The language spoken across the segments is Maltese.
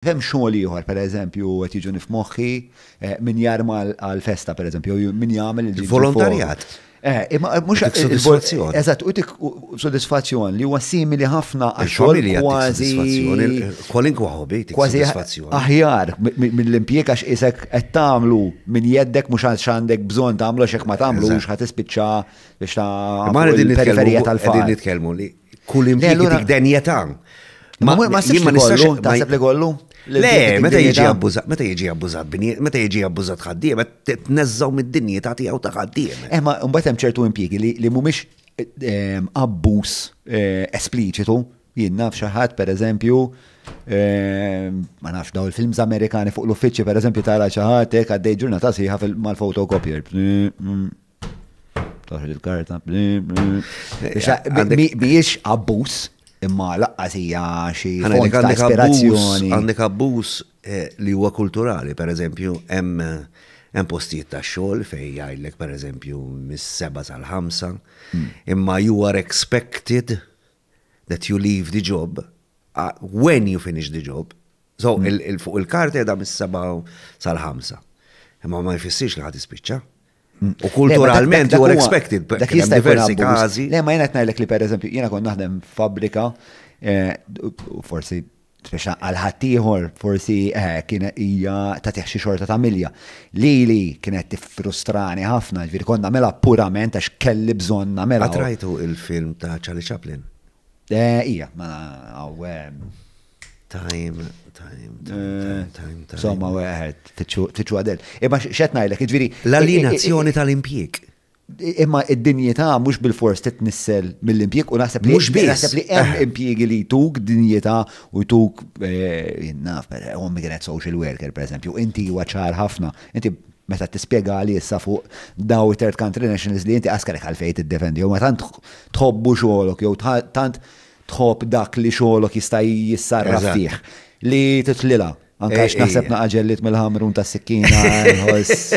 Hemm xogħol ieħor, pereżempju, qed jiġuni f'moħħi, min jarma għall-festa, pereżempju, jew min jagħmel il-ġid. Volontarjat. Imma mhux hekk sodisfazzjon. Eżatt, u dik sodisfazzjon li huwa simili ħafna għax-xogħol kważi. Kwalinkwa ħobi, kważi sodisfazzjon. Aħjar mill-impjieg għax isek qed tagħmlu minn jeddek mhux għal x'għandek bżonn tagħmlu x'hekk ma tagħmlux ħa tispiċċa biex ta' periferija tal-fajn. Qegħdin nitkellmu li Kull impieg dik denjetà. Ma ma nistax taħseb li kollu? Le, meta jiġi abbużat, meta jiġi abbużat bniet, meta jiġi abbużat ħaddiem, tneżżaw mid-dinjità tiegħu ta' ħaddiem. Eh, ma mbagħad hemm ċertu impjiegi li mhumiex ehm, abbuż eh, espliċitu, jien naf xi ħadd pereżempju ehm, ma nafx daw il-films Amerikani fuq l-uffiċċju pereżempju tara xi ħadd hekk għaddej ġurnata sieħa mal-fotokopier. Mm, mm, Toħroġ il-karta. Biex abbuż imma laqqas hija xi fond ta' ispirazzjoni. Għandek abbuż eh, li huwa kulturali, per eżempju, hemm hemm postijiet ta' xogħol fej jgħidlek per eżempju mis-seba sal-ħamsa, hmm. imma you are expected that you leave the job uh, when you finish the job. So, hmm. fuq il-karta edha mis-seba sal-ħamsa. Imma ma jfissirx li ħad ispiċċa. U kulturalment u expected, dak jista' diversi każi. Le, ma jena tnajlek li per eżempju, jena kon naħdem fabbrika, eh, forsi speċa għal-ħattijħor, forsi eh, kien hija ta' teħxi xorta ta' milja. Li li kienet tifrustrani ħafna, ġviri konna mela purament għax kelli bżonna mela. Għatrajtu il-film ta' Charlie Chaplin? Eh, ija, ma għaw. Time, time, time, time, time. Somma, għed, titxu għadel. Imma xet najlek, ġviri. L-alienazzjoni tal-impjek. Imma id-dinjità mhux bil-fors titnissel mill-impjeg u naħseb li mhux biss. Naħseb li hemm eh. impjiegi li tuk dinjità u tuk eh, naf, ommi kienet social worker pereżempju, inti huwa ċar ħafna, inti Meta tispjegali issa fuq dawn it-third country nationals li inti qas kellek għalfejn tiddefendihom ma tant tħobbu xogħolok jew tant tħobb dak li xogħolok jista' jissarraf fih li titlilha. Anke għax naħseb naqa' ġellied mill-ħamrun tas-sikkina nħoss.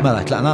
Mela, tlaqna?